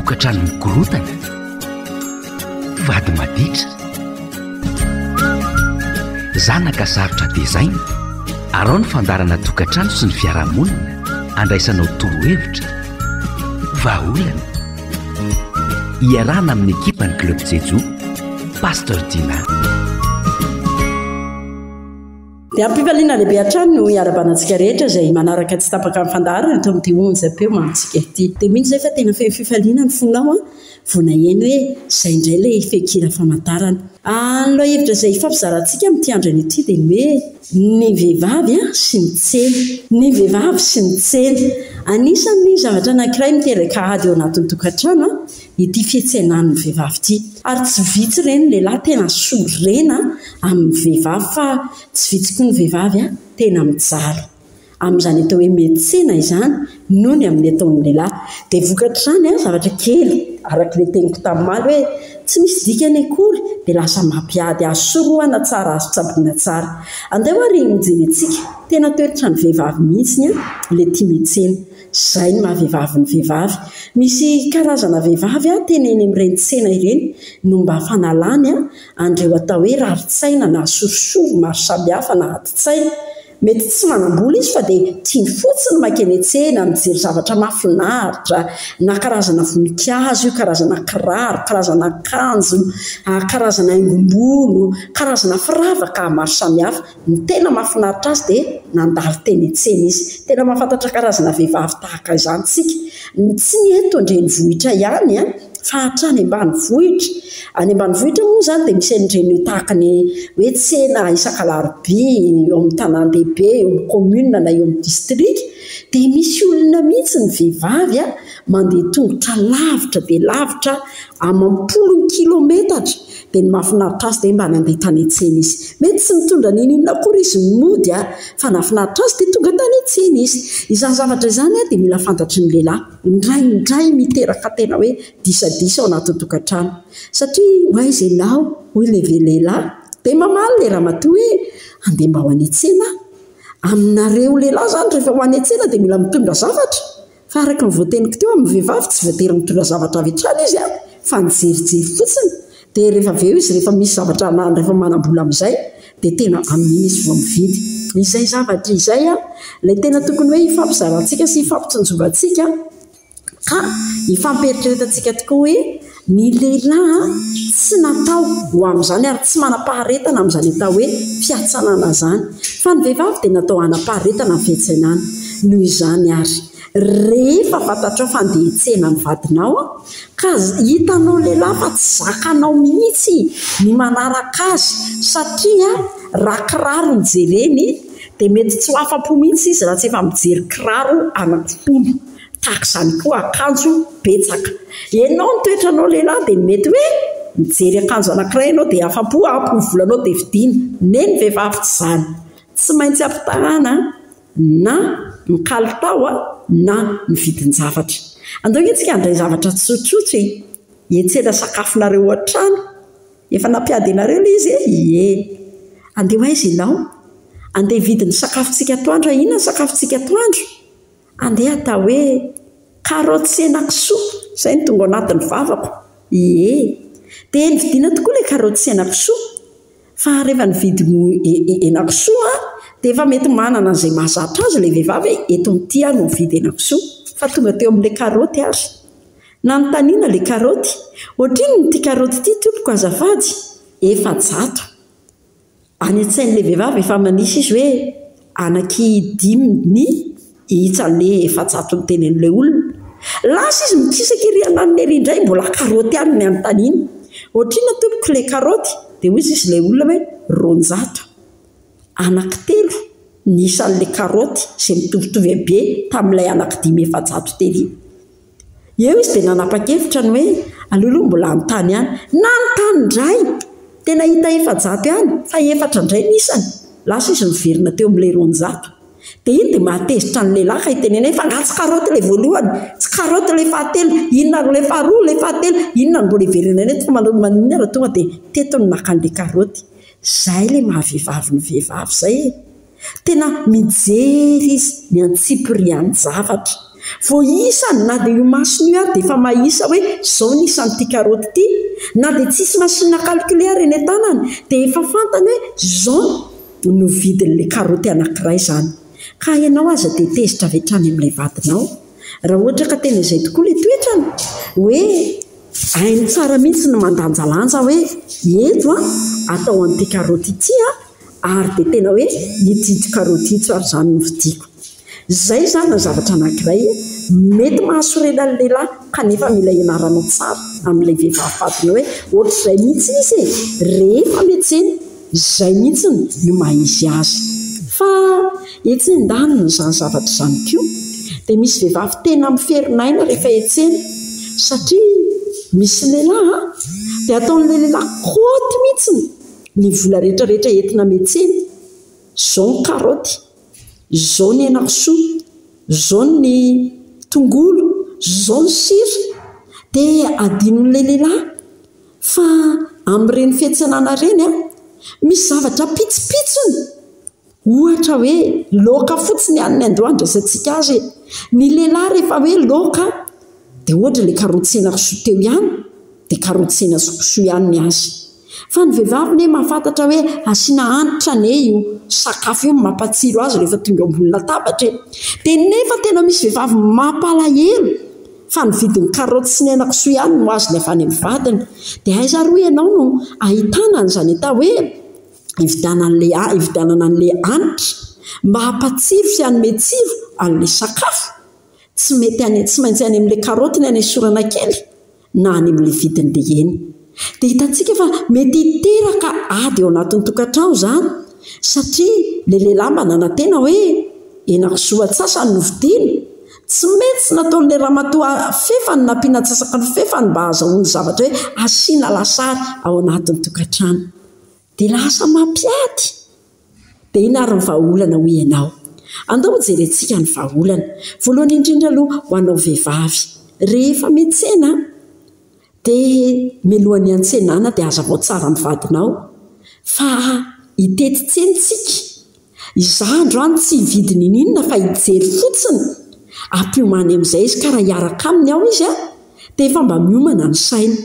Tokantrano mikorontana, mpivady maditra, zanaka sarotra tezaina, arao ny fandaharana tokantrano sy ny fiarahamonina, andraisanao torohevitra, vahaolana. Iarahana amin'ny ekipan'ny Club Jejoo, Pasteur Dina. Dia am-pifaliana lehibe hatrany no hiarabanantsika rehetra izay manaraka tsy tapaka ny fandaharana eto amin'ity Onjam-peo Mamontsika ity. Dia mino izay fa tena feno fifaliana ny fonao vao naheno hoe izay indray ilay fehin-kira famantarana. Ary ny lohahevitra izay hifampizarantsika amin'ity andrana ity dia ny hoe Ny vehivavy sy ny tsena. Ny vehivavy sy ny tsena. Anisan'ny zavatra anankiray miteraka ady ao anatin'ny tokantrano ity fiantsenan'ny vehivavy ity. Ary tsy vitsy ireny ny lehilahy tena sorena amin'ny vehivavy fa tsy vitsy koa ny vehivavy tena mijaly amin'izany atao hoe mihetsena izany noho ny amin'ny ataon'ny lehilahy. Dia vokatr'izany an, zavatra kely araka ilay teniko tamin'omaly hoe tsy misy dikany akory dia lasa mampiady azy sorohana tsara azy tsaboina tsara. Andeha hoy ary hojerentsika, tena toetran'ny vehivavy mihitsy ilay tia mihetsena. Izay ny maha vehivavy ny vehivavy. Misy karazana vehivavy tena eny amin'ireny tsena ireny no mba fanalany an'ireo atao hoe rarin-tsaina na sorisory maro samihafa na adin-tsaina. Mety tsy manam-bola izy fa dia tiany fotsiny mankeny an-tsena, mijery zavatra mahafinaritra, na karazana voninkazo io, karazana kiraro, karazana akanjo, karazana haingom-bolo, karazana firavaka maro samihafa. Ny tena mahafinaritra azy dia nandalo teny an-tsena izy. Tena mahafantatra karazana vehivavy tahaka izany isika. Tsy ny eto an-drenivohitra ihany fa hatrany ambanivohitra. Any ambanivohitra moa izany dia misy an'ireny tahaka ny hoe tsena isaka alarobia eo amin'ny tanàn-dehibe, eo amin'ny kaominina na eo amin'ny distrika. Dia misy olona mihitsy ny vehivavy mandeha an-tongotra lavitra dia lavitra amam-polony kilaometatra. Dia ny mahafinaritra azy dia mba nandeha tany an-tsena izy. Mety tsy nitondra na inona inona akory izy no nody, fa nahafinaritra azy dia tonga tany an-tsena izy. Izany zavatra izany dia mila fantatry ny lehilahy. Indraindray miteraka tena hoe disadisa ao anatin'ny tokantrano. Satria ho aiza ianao? hoy ilay lehilahy. Dia mamaly ilay ramatoa hoe, handeha mba ho any an-tsena aho. Aminareo lehilahy izany rehefa ho any an-tsena dia mila mitondra zavatra. Fa araka ny voateniko teo amin'ny vehivavy tsy voatery mitondra zavatra avy hatrany izy an, fa nijerijery fotsiny, dia rehefa avy eo izy rehefa misy zavatra na rehefa manam-bola amin'izay dia tena amin'iny izy vao mividy. Izay zavatra izay an, ilay tena tokony hoe hifampizarantsika sy hifampitsinjovantsika ka hifampieritreretatsika tokoa hoe, Ny lehilahy tsy natao ho amin'izany ary tsy manam-paharetana amin'izany atao hoe fiatsanana izany, fa ny vehivavy dia natao hanam-paharetana ny fiantsenana. Noho izany ary, rehefa fantatrao fa handeha hitsena ny vadinao ka hitanao lehilahy fa tsy zakanao mihitsy ny manaraka azy satria raha kiraro no jereny dia mety tsy ho afa-po mihitsy izy raha tsy efa mijery kiraro anankiroa. Tahaka izany koa akanjo betsaka. Enao ny toetranao lehilahy dia mety hoe mijery akanjo anankiray ianao dia afa-po ampy ny volanao dia vidiana. Neh ny vehivavy tsy izany. Tsy maintsy ampitahana na ny kalitao na ny vidin-javatra. Andao ange isika handray zavatra tsotsotra e! Hiantsena sakafonareo ao an-trano. Efa nampiady anareo ilay izy e! Ie. Andeha ho aiza ianao? Andeha hividy ny sakafontsika atoandro aho. Inona ny sakafontsika atoandro? Andeha hatao hoe karaoty sy henakisoa izay no tonga ao anatin'ny vavako. Ie. Dia heno vidina tokoa ilay karaoty sy henakisoa. Fa rehefa nividy henakisoa aho dia efa mety manana an'izay mahazatra azy ilay vehivavy hoe eto amin'ny ity aho no mividy henakisoa. Fa tonga teo amin'ilay karaoty ary. Nanontaniana ilay karaoty, Ohatrinona ity karaoty ity tompoko azafady? Efajato. Any an-tsain'ilay vehivavy efa manisa izy hoe anaky dimy ny isa an'ny efajato ny tenen'ilay olona. Lasa izy mikisaka ery andaniny ery indray mbola karaoty ihany ny anontaniany. Ohatrinona tompoko ilay karaoty? Dia hoy izy ilay olona hoe roanjato. Anaky telo ny isan'ilay karaoty izay mitovitovy habe tamin'ilay anaky dimy efajato tery. Eo izy dia nanapa-kevitra ny hoe aleo aloha mbola hanontany ihany. Nanontany indray! Dia nahita efajato ihany, fa efatra indray ny isany. Lasa izy niverina teo amin'ilay roanjato. Dia iny dia mahatezitra ny lehilahy ka itenenany hoe fa angaha tsy karaoty ilay voalohany? Tsy karaoty ilay fahatelo? Inona ary ilay faharoa, ilay fahatelo? Inona no mbola hiverenany eto fa manao ny maninona raha tonga dia teto no naka an'ilay karaoty? Izay ilay maha-vehivavy ny vehivavy izay e! Tena mijery izy, miantsipiriha ny zavatra. Vao isany, na dia io masony io ary dia efa mahisa hoe izao ny isan'ity karaoty ity. Na dia tsisy machine à calculer eny an-tanany dia efa fantany hoe izao no vidin'ilay karaoty anankiray izany. Ka ianao aza dia tezitra avy hatrany amin'ilay vadinao. Raha ohatra ka tena izay tokoa ilay toetrany, hoe hainy tsara mihitsy ny mandanjalanja hoe eto an, atao an'ity karaoty ity an. Ary dia tena hoe nitsidika karaoty intsy ary izany no vidiko. Izay izany no zavatra anankiray mety mahasorena ny lehilahy kanefa mila ianarana tsara amin'ilay vehivavy vadiny hoe ohatr'izay mihitsy izy e! rehefa miantsena izay mihitsy no maha izy azy. Fa etsy an-danin'izany zavatra izany koa dia misy vehivavy tena miferinaina rehefa hiantsena satria misy lehilahy dia ataon'ilay lehilahy kaoty mihitsy. Ny vola rehetra rehetra entina metsena, zao ny karoty, zao ny henakisoa, zao ny tongolo, zao ny sira dia adinon'ilay lehilahy fa amin'ireny fiantsenana ireny an, misy zavatra pitsipitsiny. Ohatra hoe loaka fotsiny ihany ny andoha andraisantsika azy e! Ny lehilahy rehefa hoe loaka dia ohatra ilay karotsena kisoa teo ihany dia karotsena sy kisoa ihany ny azy. Fa ny vehivavy anie mahafantatra hoe asiana hanitra anie io sakafo io no mampatsiro azy rehefa tonga eo ambony latabatra e! Dia nefa tena misy vehivavy mampalahelo fa ny vidin'ny karoty sy ny aina kisoa ihany no azony avy any amin'ny vadiny. Dia aiza ary hoy ianao no ahitana an'izany atao hoe. hividianana an'ilay ha- hividianana an'ilay hanitra mba hampatsiro sy hanome tsiro an'ilay sakafo. Tsy mety any tsy maintsy any amin'ilay karaoty ny hanesorana kely na any amin'ilay vidiny be eny. Dia hitantsika fa mety hiteraka ady ao anatin'ny tokantrano izany satria ilay lehilahy mba nanantena hoe henakisoa antsasany no vidiana. Tsy mety tsy nataon'ilay ramatoa fefany nampiana antsasaka ny fefany mba hahazahoany zavatra hoe asiana lasary ao anatin'ny tokantrano. Dia lasa mampiady be ianareo ny vahaolana hoy ianao. Andao hojerentsika ny vahaolana. Voalohany indrindra aloha ho anao vehivavy, rehefa miantsena dia mialohan'ny hiantsenana dia hazavao tsara amin'ny vadinao fa hitety tsena isika Izaho androany tsy hividy niniinona fa hijery fotsiny, ampiomany amin'izay izy ka raha hiaraka aminy aho izy an, dia efa mba miomana ny sainy.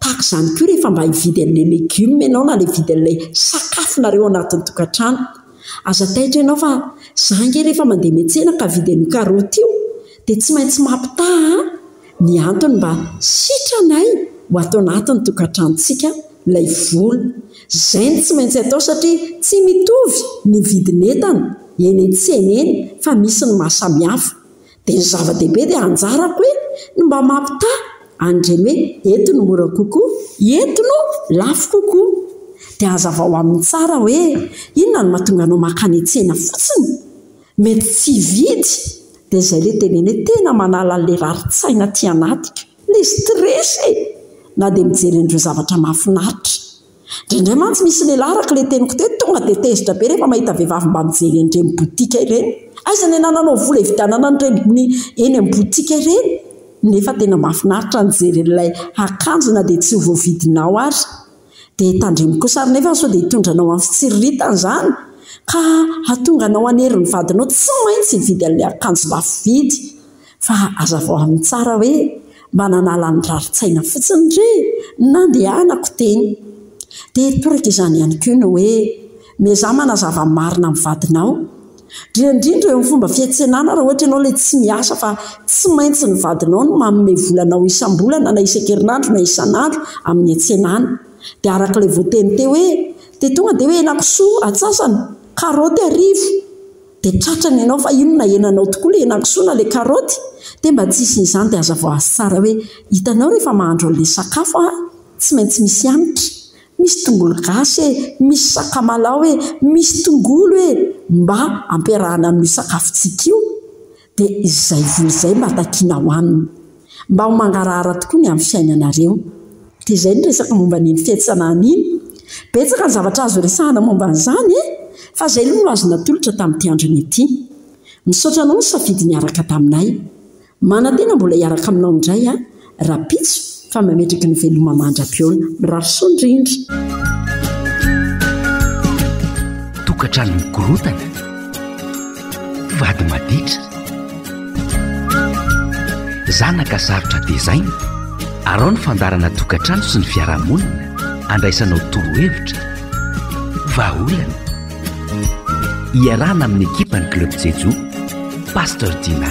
Tahaka izany koa rehefa mba hividy an'ilay legioma ianao na ilay hividy an'ilay sakafonareo ao anatin'ny tokantrano. Aza taitra ianao fa izaho ange rehefa mandeha miantsena ka hividy an'io karaoty io dia tsy maintsy mampitaha an! Ny antony mba sitranay ho ato anatin'ny tokantranontsika ilay vola. Izay no tsy maintsy atao satria tsy mitovy ny vidin'entana eny an-tsena eny fa misy ny maha samihafa. Dia ny zava-dehibe dia anjarako hoe ny mba mampitaha an'ireny hoe eto no mora kokoa, eto no lafo kokoa. Dia hazavao aminy tsara hoe inona no mahatonga anao mankany an-tsena fotsiny. Mety tsy hividy dia izay le teneniny hoe tena manala anle raritsaina aty anaty ka! le stress e! na dia mijery an'ireo zavatra mahafinaritra. Indraindray mantsy misy lehilahy araka ilay teniko teo tonga dia tezitra be rehefa mahita vehivavy mba mijery an'ireny botika ireny. Aiza ny anananao vola hividianana an'ireny eny amin'ny botika ireny nefa tena mahafinaritra ny mijery an'ilay akanjo na dia tsy ho voavidinao ary. Dia tandremo kosa ary nefa sao dia hitondra anao amin'ny fitsiriritana izany ka hahatonga anao hanery ny vadinao tsy maintsy hividy an'ilay akanjo lafo vidy. Fa hazavao aminy tsara hoe mba nanala ny rarin-tsaina fotsiny re ny nandehanako teny. Dia toraka izany ihany koa ny hoe miezaha manazava ny marina amin'ny vadinao. Indrindra indrindra eo amin'ny fomba fiantsenana raha ohatra ianao ilay tsy miasa fa tsy maintsy ny vadinao no manome vola anao isam-bolana na isan-kerinandro na isan'andro amin'ny antsenana. Dia araka ilay voateny teo hoe dia tonga dia hoe henakisoa atsasany, karaoty arivo. Dia tratrany ianao fa inona henanao tokoa ilay henakisoa na ilay karaoty? Dia mba tsy hisian'izany dia hazavao azy tsara hoe hitanao rehefa mahandro an'ilay sakafo aho tsy maintsy misy hanitra. Misy tongolo gasy e, misy sakamalaho e, misy tongolo e! mba ampiarahana amin'io sakafontsika io dia izay voa izay mba takiana hohanina. Mba ho mangarahara tokoa ny amin'ny fiainanareo. Dia izay ny resaka momba an'iny fiantsanana iny. Betsaka ny zavatra azo resahana momba an'izany e! Fa izay aloha no azo natolotra tamin'ity androny ity. Misaotra anao nisafidy niaraka taminay. Manantena mbola hiaraka aminao indray aho rahampitso fa mametraky ny veloma mandra-pihaona. Mirary soa indrindra. Tokantrano mikorontana, vady maditra, zanaka sarotra tezaina, arao ny fandaharana Tokantrano sy ny fiarahamonina andraisanao torohevitra, vahaolana, Iarahana amin'ny ekipan'ny Club Jejo, Pasteur Dina.